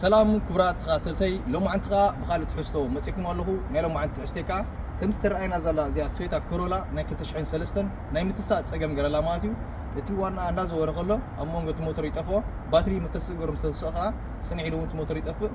ሰላም ክቡራት ተኸታተልተይ ሎማዓንቲ ከዓ ብካልእ ትሕዝቶ መፂእኩም ኣለኹ ናይ ሎማዓንቲ ትሕዝተይ ከዓ ከም ዝተረኣየና ዘላ እዚኣ ቶዮታ ኮሮላ ናይ 2003 ናይ ምትሳእ ፀገም ገረላ ማለት እዩ እቲ ዋናኣ እንዳዘወረ ከሎ ኣብ መንጎ እቲ ሞተር ይጠፍኦ ባትሪ ምተስእገሩ ምስተስኦ ከዓ ስንዒ ኢሉ እውን እቲ ሞተር ይጠፍእ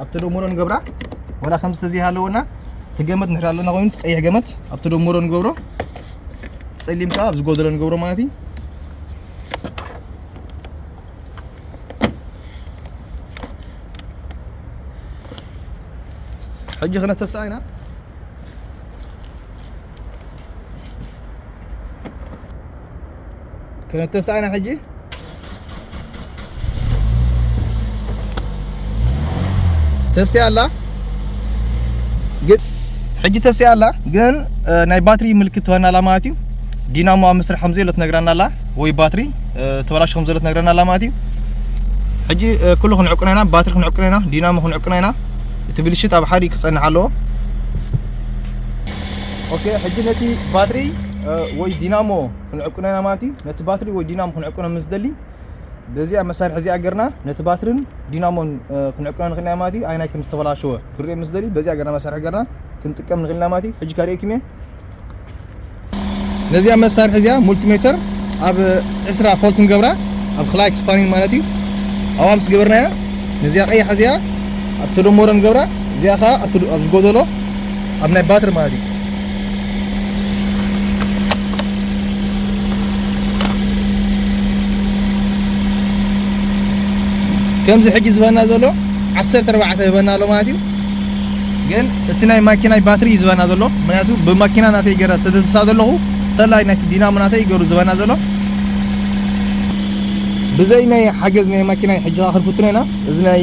ኣብ ተደምሮ ንገብራ ወላ ከምዚ ተዘይሃለወና እቲ ገመት ንድሕር ኣለና ኮይኑ እቲ ቀይሕ ገመት ኣብ ተደምሮ ንገብሮ ፀሊም ከዓ ኣብ ዝጎደሎ ንገብሮ ማለት እዩ ሕጂ ክነተስኣ ኢና ክነተስኣ ኢና ሕጂ ተስያ ኣላ ግን ሕጂ ተስያ ኣላ ግን ናይ ባትሪ ምልክት ትበና ኣላ ማለት እዩ ዲናሞ ኣብ ምስራሕ ከም ዘየሎ ትነግረና ኣላ ወይ ባትሪ ተበላሽ ከም ዘሎ ትነግረና ኣላ ማለት እዩ ሕጂ ኩሉ ክንዕቅኖ ኢና ባትሪ ክንዕቅኖ ኢና ዲናሞ ክንዕቅኖ ኢና እቲ ብልሽት ኣብ ሓዲ ክጸንሕ ኣለዎ ኦኬ ሕጂ ነቲ ባትሪ ወይ ዲናሞ ክንዕቅኖ ኢና ማለት እዩ ነቲ ባትሪ ወይ ዲናሞ ክንዕቅኖ ምስ ደሊ በዚኣ መሳርሒ እዚኣ ገርና ነቲ ባትርን ዲናሞን ክንዕቅኖ ንኽእል ኢና ማለት እዩ ኣይናይ ከም ዝተበላሸወ ክንሪኦ ምስ ደሊ በዚኣ ገርና መሳርሒ ገርና ክንጥቀም ንኽእል ኢና ማለት እዩ ሕጂ ካሪኤኩም እየ ነዚኣ መሳርሒ እዚኣ ሙልቲሜተር ኣብ ዕስራ ፎልት ንገብራ ኣብ ክላይክ ስፓኒን ማለት እዩ ኣብኣ ምስ ገበርናያ ነዚኣ ቀያሕ እዚኣ ኣብ ተደመሮ ንገብራ እዚኣ ከዓ ኣብ ዝጎደሎ ኣብ ናይ ባትሪ ማለት እዩ ከምዚ ሕጂ ዝበና ዘሎ ዓሰርተ ኣርባዕተ ይበና ኣሎ ማለት እዩ ግን እቲ ናይ ማኪናይ ባትሪ እዩ ዝበና ዘሎ ምክንያቱ ብማኪና ናተይ ገረ ሰተትሳ ዘለኹ ተላይ ናይቲ ዲናሞ ናተይ ገሩ ዝበና ዘሎ ብዘይ ናይ ሓገዝ ናይ ማኪናይ ሕጂ ክንፍትኖ ኢና እዚ ናይ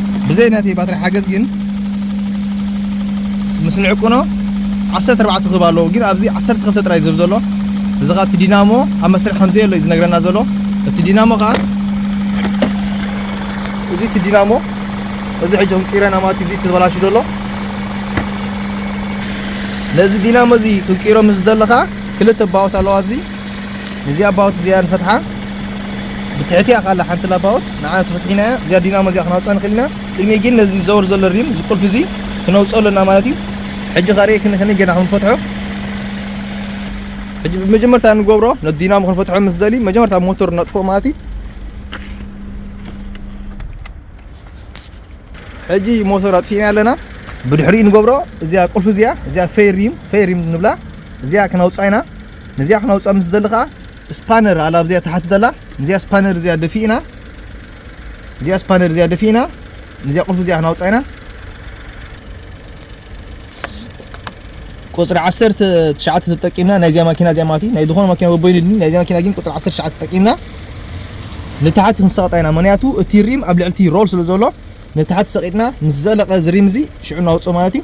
ብዘይ ናተይ ባትሪ ሓገዝ ግን ምስ ንዕቅኖ ዓሰርተ ኣርባዕተ ክህብ ኣለዎ ግን ኣብዚ ዓሰርተ ክልተ ጥራይ ዝህብ ዘሎ እዚ ኸኣ እቲ ዲናሞ ኣብ መስርሕ ከም ዘየሎ እዩ ዝነግረና ዘሎ እቲ ዲናሞ ኸኣ እዚ እቲ ዲናሞ እዚ ሕጂ ክንቅይረና ማለት እዩ እዚ ተበላሹ ዘሎ ነዚ ዲናሞ እዚ ክንቅይሮ ምስ ዝደለኻ ክልተ ባወት ኣለዋ ኣብዚ እዚኣ ባውት እዚኣ ንፈትሓ ብትሕቲ እያ ካላ ሓንቲ ላባውት ንዓ ተፈትሒና እያ እዚኣ ዲናሞ እዚኣ ክናውፅኣ ንኽእል ኢና ቅድሚ ግን ነዚ ዘወር ዘሎ ሪም እዚ ቁልፊ እዚ ክነውፅኦ ኣለና ማለት እዩ ሕጂ ካሪኤ ክንክኒ ገና ከም ንፈትሖ ሕጂ ብመጀመርታ ንገብሮ ነቲ ዲናሞ ክንፈትሖ ምስ ደሊ መጀመርታ ሞተር ነጥፎ ማለት እዩ ሕጂ ሞተር ኣጥፊእና ኣለና ብድሕሪኡ ንገብሮ እዚኣ ቁልፊ እዚኣ እዚኣ ፈይ ሪም ፈይ ሪም ንብላ እዚኣ ክነውፅኣ ኢና ነዚኣ ክነውፅኣ ምስ ዝደሊ ከዓ ስፓነር ኣላ ኣብዚኣ ተሓቲ ዘላ ነዚኣ ስፓነር እዚኣ ደፊእና እዚኣ ስፓነር እዚኣ ደፊእና ነዚኣ ቁልፊ እዚኣ ክናውፅኣ ኢና ቁፅሪ ዓሰርተ ትሽዓተ ተጠቂምና ናይዚኣ ማኪና እዚኣ ማለት እዩ ናይ ዝኾነ ማኪና በበይኑ ድኒ ናይዚኣ ማኪና ግን ቁፅሪ ዓሰርተ ትሽዓተ ተጠቂምና ንታሕቲ ክንሰቕጣ ኢና ምክንያቱ እቲ ሪም ኣብ ልዕልቲ ሮል ስለ ዘሎ ንታሕቲ ሰቒጥና ምስ ዘለቐ እዚ ሪም እዚ ሽዑ እናውፅኦ ማለት እዩ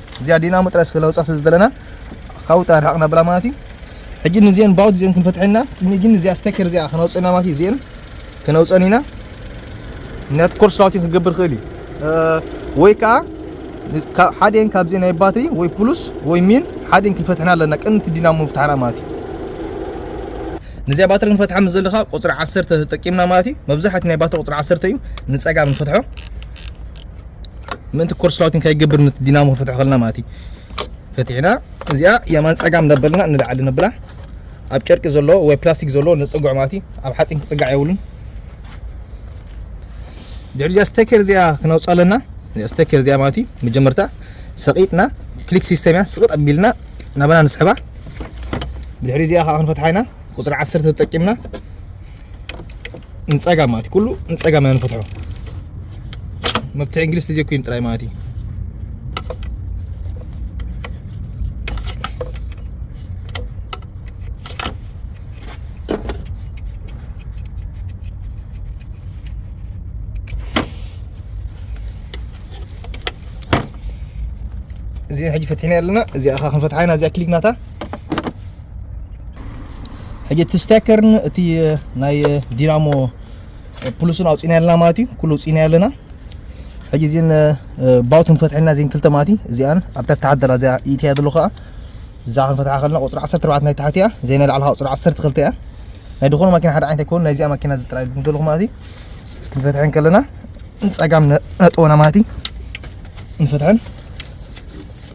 እዚኣ ዲናሞ ጥራይ ስለ ለውጻ ስለ ዝደለና ካብኡ ጥራይ ርሕቕ ነብላ ማለት እዩ ሕጂ ንዚኤን ባውት ዚኤን ክንፈትሐን ኢና ቅድሚ ግን እዚኣ ስተከር እዚኣ ከነውጽእ ኢና ማለት እዩ ዚኤን ከነውጽአን ኢና ምክንያቱ ኮርስ ራውቲን ክገብር ክእል እዩ ወይ ከዓ ሓደን ካብዚ ናይ ባትሪ ወይ ፕሉስ ወይ ሚን ሓደን ክንፈትሐና ኣለና ቅድሚ እቲ ዲናሞ ምፍታሕና ማለት እዩ ነዚኣ ባትሪ ክንፈትሓ ምስ ዘለካ ቁፅሪ ዓሰርተ ተጠቂምና ማለት እዩ መብዛሕቲ ናይ ባትሪ ቁፅሪ ዓሰርተ እዩ ንፀጋም ንፈትሖ ምእንቲ ኮርስ ራውቲን ከይገብር ንቲ ዲናሞ ክፈትሖ ከለና ማለት እዩ ፈቲሕና እዚኣ የማን ፀጋም ነበልና ንላዕሊ ነብላ ኣብ ጨርቂ ዘለዎ ወይ ፕላስቲክ ዘለዎ ንፅጉዕ ማለት እዩ ኣብ ሓፂን ክፅጋዕ የብሉን ድሕሪ እዚኣ ስተኬር እዚኣ ክነውፅኣ ኣለና እዚኣ ስተኬር እዚኣ ማለት እዩ መጀመርታ ሰቂጥና ክሊክ ሲስተም እያ ስቕጥ ኣቢልና ናባና ንስሕባ ድሕሪ እዚኣ ከዓ ክንፈትሓ ኢና ቁፅሪ ዓሰርተ ተጠቂምና ንፀጋም ማለት እዩ ኩሉ ንፀጋም ኢና ንፈትሖ መፍትሒ እንግሊዝ ተጀኩይን ጥራይ ማለት እዩ እዚኣ ሕጂ ፈትሒና ኣለና እዚኣ ኸ ክንፈትሓ ኢና እዚኣ ክሊክ ናታ ሕጂ እቲ ስቴከርን እቲ ናይ ዲናሞ ፕሉስን ኣውፂእና ኣለና ማለት እዩ ኩሉ ውፂእና ኣለና ሕጂ እዚን ባውት ንፈትሐልና እዚን ክልተ ማለት እዩ እዚኣን ኣብታ ተሓደላ እዚኣ ኢትያ ዘሎ ከዓ እዛ ክንፈትሓ ከለና ቁፅሪ 14 ናይ ታሕቲ እያ ዘይ ናይ ላዕሊ ቁፅሪ 12 እያ ናይ ዝኾነ ማኪና ሓደ ዓይነት ኣይኮኑ ናይዚኣ ማኪና እዚ ጥራይ ንደልኹ ማለት እዩ ክንፈትሐን ከለና ንፀጋም ነጥወና ማለት እዩ ንፈትሐን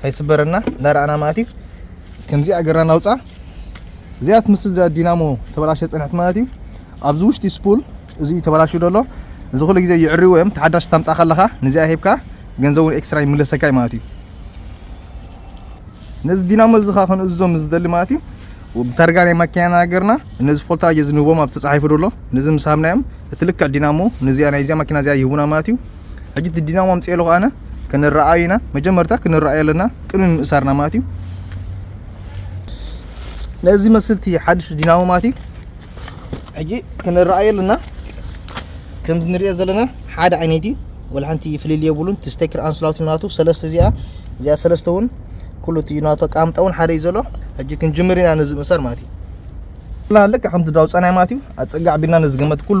ከይስበረና እናረኣና ማለት እዩ ከምዚኣ ገርና ናውፃ እዚኣ ትምስል እዚኣ ዲናሞ ተበላሸ ፅንሕት ማለት እዩ ኣብዚ ውሽጢ ስፑል እዚ ተበላሹ ደሎ እዚ ኩሉ ግዜ ይዕርዎ እዮም ተሓዳሽ ታምፃ ከለኻ ንዚኣ ሂብካ ገንዘቡን ኤክስትራ ይምለሰካ እዩ ማለት እዩ ነዚ ዲናሞ እዚ ኸ ክንእዞም ዝደሊ ማለት እዩ ብታርጋ ናይ ማኪና ናገርና ነዚ ፎልታጅ እዚ ንህቦም ኣብ ተፃሒፉ ደሎ ነዚ ምስ ሃብናዮም እቲ ልክዕ ዲናሞ ነዚኣ ናይዚኣ ማኪና እዚኣ ይህቡና ማለት እዩ ሕጂ እቲ ዲናሞ ኣምፅኦ ኣለኹ ኣነ ክንረኣዩ ኢና መጀመርታ ክንረኣዩ ኣለና ቅድሚ ምእሳርና ማለት እዩ ነዚ መስልቲ ሓድሽ ዲናሞ ማለት እዩ ሕጂ ክንረኣዩ ኣለና ከምዚ ንሪኦ ዘለና ሓደ ዓይነት እዩ ወላ ሓንቲ ፍልልይ የብሉን እቲ ስቴክር ኣንስላውቲ ናቱ ሰለስተ እዚኣ እዚኣ ሰለስተ እውን ኩሉ እቲ ናቱ ኣቃምጣ እውን ሓደ እዩ ዘሎ ሕጂ ክንጅምር ኢና ነዚ ምእሳር ማለት እዩ ልክ ከምቲ ዳውፃናይ ማለት እዩ ኣፀጋዕ ቢልና ነዚ ገመት ኩሉ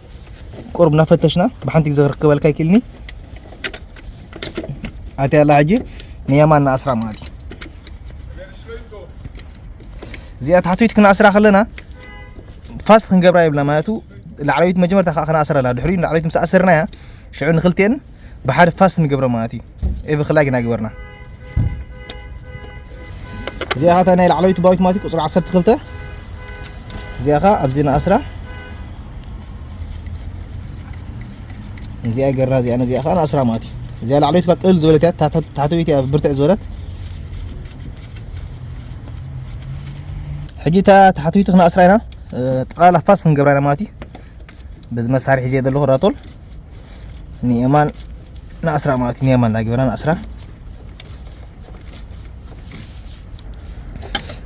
ቁሩብ እናፈተሽና ብሓንቲ ግዜ ክረክበልካ ይክእልኒ ኣቲ ኣላ ሕጂ ንየማን ንኣስራ ማለት እዩ እዚኣ ታሕተይቲ ክነኣስራ ከለና ፋስት ክንገብራ የብልና ማለቱ ላዕለዊት መጀመርታ ከዓ ክነኣስራ ኣላ ድሕሪኡ ንላዕለዊት ምስ ኣሰርናያ ሽዑ ንክልቴን ብሓደ ፋስት ንገብረ ማለት እዩ ኤቭ ክላይ ግና ግበርና እዚኣ ካታ ናይ ላዕለዊት ባዊት ማለት ቁፅሪ 12 እዚኣ ካ ኣብዚ ንኣስራ እዚኣ ገርና እዚኣ ነዚኣ ከዓ ንኣስራ ማለት እዩ እዚኣ ላዕለዊት ካ ቅልል ዝበለት እያ ታሕተዊት እያ ብርትዕ ዝበለት ሕጂ እታ ታሕተዊት ክንኣስራ ኢና ጠቕላላ ፋስ ክንገብራ ኢና ማለት እዩ በዚ መሳርሒ እዚኣ ዘለኹ ራቶል ንየማን ንኣስራ ማለት እዩ ንየማን ናጊበና ንኣስራ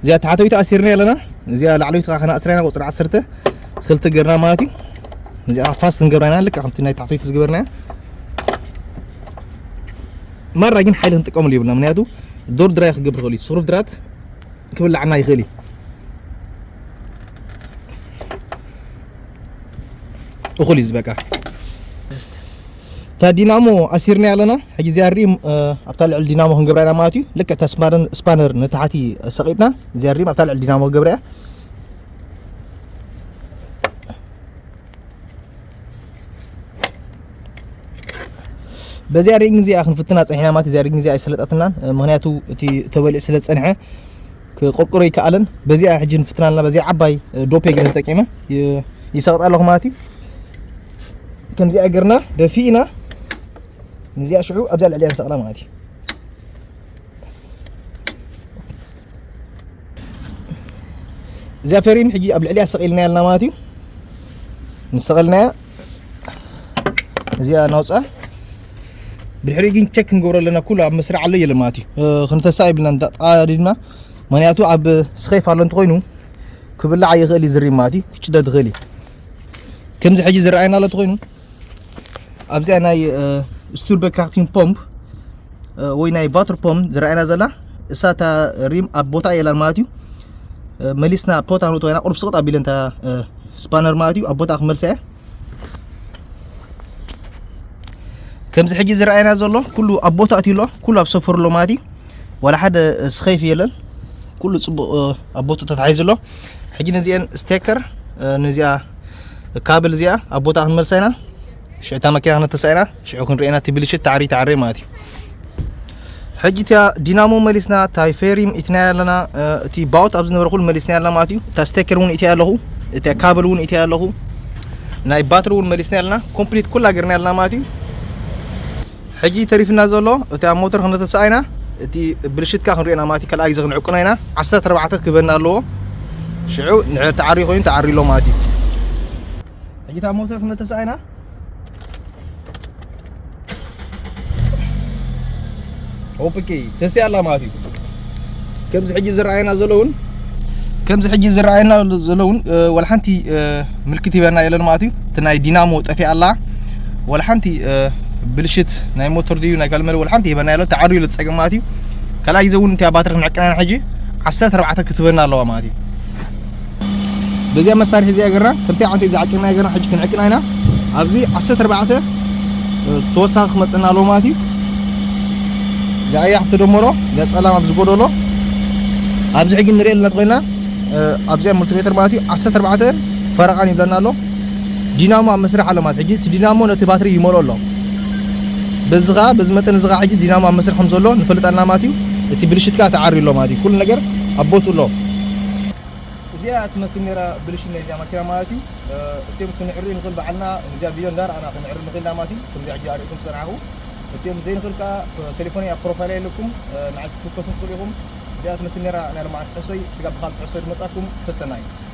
እዚኣ ታሕተዊት ኣሲርና ኣለና እዚኣ ላዕለዊት ከዓ ከነኣስራ ኢና ቁፅሪ ዓሰርተ ክልተ ገርና ማለት እዩ እዚኣ ፋስት ንገብራ ኢና ልክዕ ከምቲ ናይ ታሕተዊት ዝገበርና ማራ ግን ሓይሊ ክንጥቀምሉ ይብልና ምክንያቱ ዶር ድራይ ክገብር ይኽእል እዩ ስሩፍ ድራት ክብላዕና ይኽእል እዩ እኹል እዩ ዝበቃ እታ ዲናሞ ኣሲርና ኣለና ሕጂ እዚኣ ሪም ኣብታ ልዕሊ ዲናሞ ክንገብራ ኢና ማለት እዩ ልክዕ እታ ስፓነር ስፓነር ንታሕቲ ሰቂጥና እዚኣ ሪም ኣብታ ልዕሊ ዲናሞ ክገብራ እያ በዚኣ ሪንግ እዚኣ ክንፍትና ፀኒሕና ማለት እዚኣ ሪንግ እዚኣ ኣይሰለጠትናን ምክንያቱ እቲ ተበሊዑ ስለ ዝፀንሐ ክቁርቁሮ ይከኣለን በዚኣ ሕጂ ንፍትና ኣለና በዚኣ ዓባይ ዶፔ ገለ ተጠቂመ ይሰቕጥ ኣለኹ ማለት እዩ ከምዚኣ ገርና ደፊእና ንዚኣ ሽዑ ኣብዚኣ ልዕሊያ ንሰቕላ ማለት እዩ እዚኣ ፈሪም ሕጂ ኣብ ልዕሊያ ሰቒልናያ ኣለና ማለት እዩ ምስ ሰቐልናያ እዚኣ ናውፃ ብድሕሪኡ ግን ቸክ ክንገብሮ ኣለና ኩሉ ኣብ መስርዕ ኣሎ የለ ማለት እዩ ክንተሳ ይብልና እንዳጣዲድና ምክንያቱ ኣብ ስኼፍ ኣሎ እንተኮይኑ ክብላዕ ይኽእል እዩ ዝርይ ማለት እዩ ክጭደድ ይኽእል እዩ ከምዚ ሕጂ ዝረኣየና ኣሎ እንተኮይኑ ኣብዚኣ ናይ ስቱርበ ክራክቲን ፖምፕ ወይ ናይ ቫትር ፖምፕ ዝረኣየና ዘላ እሳ እታ ሪም ኣብ ቦታ የላን ማለት እዩ መሊስና ፖታ ንውጥወና ቁርብ ስቕጥ ኣቢለ እንታ ስፓነር ማለት እዩ ኣብ ቦታ ክመልሰ እያ ከምዚ ሕጂ ዝረኣየና ዘሎ ኩሉ ኣብ ቦታ ኣትዩ ኣሎ ኩሉ ኣብ ሰፈሩ ኣሎ ማለት እዩ ዋላ ሓደ ስኸይፍ የለን ኩሉ ፅቡቕ ኣብ ቦታ ተታሒዙ ኣሎ ሕጂ ነዚአን ስቴከር ነዚኣ ካብል እዚኣ ኣብ ቦታ ክንመልሳ ኢና ሽዑ እታ መኪና ክነተሳ ኢና ሽዑ ክንሪኤና እቲ ብልሽት ተዓሪ ተዓሪ ማለት እዩ ሕጂ እቲኣ ዲናሞ መሊስና እታይ ፌሪም ኢትናያ ኣለና እቲ ባውት ኣብ ዝነበረ ኩሉ መሊስናያ ኣለና ማለት እዩ እታ ስቴከር እውን ኢትያ ኣለኹ እታ ካብል እውን ኢትያ ኣለኹ ናይ ባትሪ እውን መሊስናያ ኣለና ኮምፕሊት ኩላ ገርናያ ኣለና ማለት እዩ ሕጂ ተሪፍና ዘሎ እቲ ኣብ ሞተር ክነተሰኣይና እቲ ብልሽትካ ክንሪኦና ማለት እዩ ካልኣይ ግዜ ክንዕቅኖ ኢና ዓሰርተ ኣርባዕተ ክበና ኣለዎ ሽዑ ንድሕር ተዓሪ ኮይኑ ተዓሪ ኣሎ ማለት እዩ ሕጂ እታ ሞተር ክንደ ተሳኢና ኦፕኪ ተስያ ኣላ ማለት እዩ ከምዚ ሕጂ ዝረኣየና ዘሎ እውን ከምዚ ሕጂ ዝረኣየና ዘሎ እውን ወላ ሓንቲ ምልክት ሂበና የለን ማለት እዩ እቲ ናይ ዲናሞ ጠፊኣ ኣላ ወላ ሓንቲ ብልሽት ናይ ሞተር ድዩ ናይ ካልእ መለ ወላ ሓንቲ ሂበና የለን ተዓርዩ ኢሉ ዝፀገም ማለት እዩ ካልኣይ ግዜ እውን እቲኣ ባትሪ ክንዕቅና ኢና ሕጂ ዓሰርተ ኣርባዕተ ክትበና ኣለዋ ማለት እዩ በዚኣ መሳርሒ እዚኣ ገርና ከምቲ ዓንቲ እዚ ዓቂብናዮ ገርና ሕጂ ክንዕቅና ኢና ኣብዚ 14 ተወሳኺ ክመጽና ኣለዎ ማለት እዩ እዛ ቀያሕ ትደመሮ እዛ ጸላም ኣብ ዝጎደሎ ኣብዚ ሕጂ ንሪኦ ኣለና ተኮይና ኣብዚኣ ሙልቲሜተር ማለት እዩ 14 ፈረቓን ይብለና ኣሎ ዲናሞ ኣብ መስርሕ ኣሎ ማለት ሕጂ እቲ ዲናሞ ነቲ ባትሪ ይመልኦ ኣሎ በዚ ከዓ በዚ መጠን እዚ ከዓ ሕጂ ዲናሞ ኣብ መስርሕ ከም ዘሎ ንፈልጥ ኣለና ማለት እዩ እቲ ብልሽት ከዓ ተዓርዩ ኣሎ ማለት እዩ ኩሉ ነገር ኣብ ቦትኡ ኣሎ እዚኣ እያ ትመስል ነይራ ብልሽት ናይዚኣ ማኪና ማለት እዩ እቲኦም ክንዕሪ ንኽእል ባዕልና ንዚኣ ቪድዮ እንዳረኣና ክንዕሪ ንኽእል ኢና ማለት እዩ ከምዚኣ ሕጂ ኣርእኩም ትጸንዓኹ እቲኦም ዘይንኽእል ከኣ ቴሌፎነይ ኣብ ፕሮፋይለይ ኣለኩም ንዓይ ክትውከሱ ትኽእሉ ኢኹም እዚኣ ትመስል ነይራ ናይ ሎምዓንቲ ትሕዝቶይ ስጋብ ብኻልእ ትሕዝቶ ድመጻኩም ሰሰናዩ።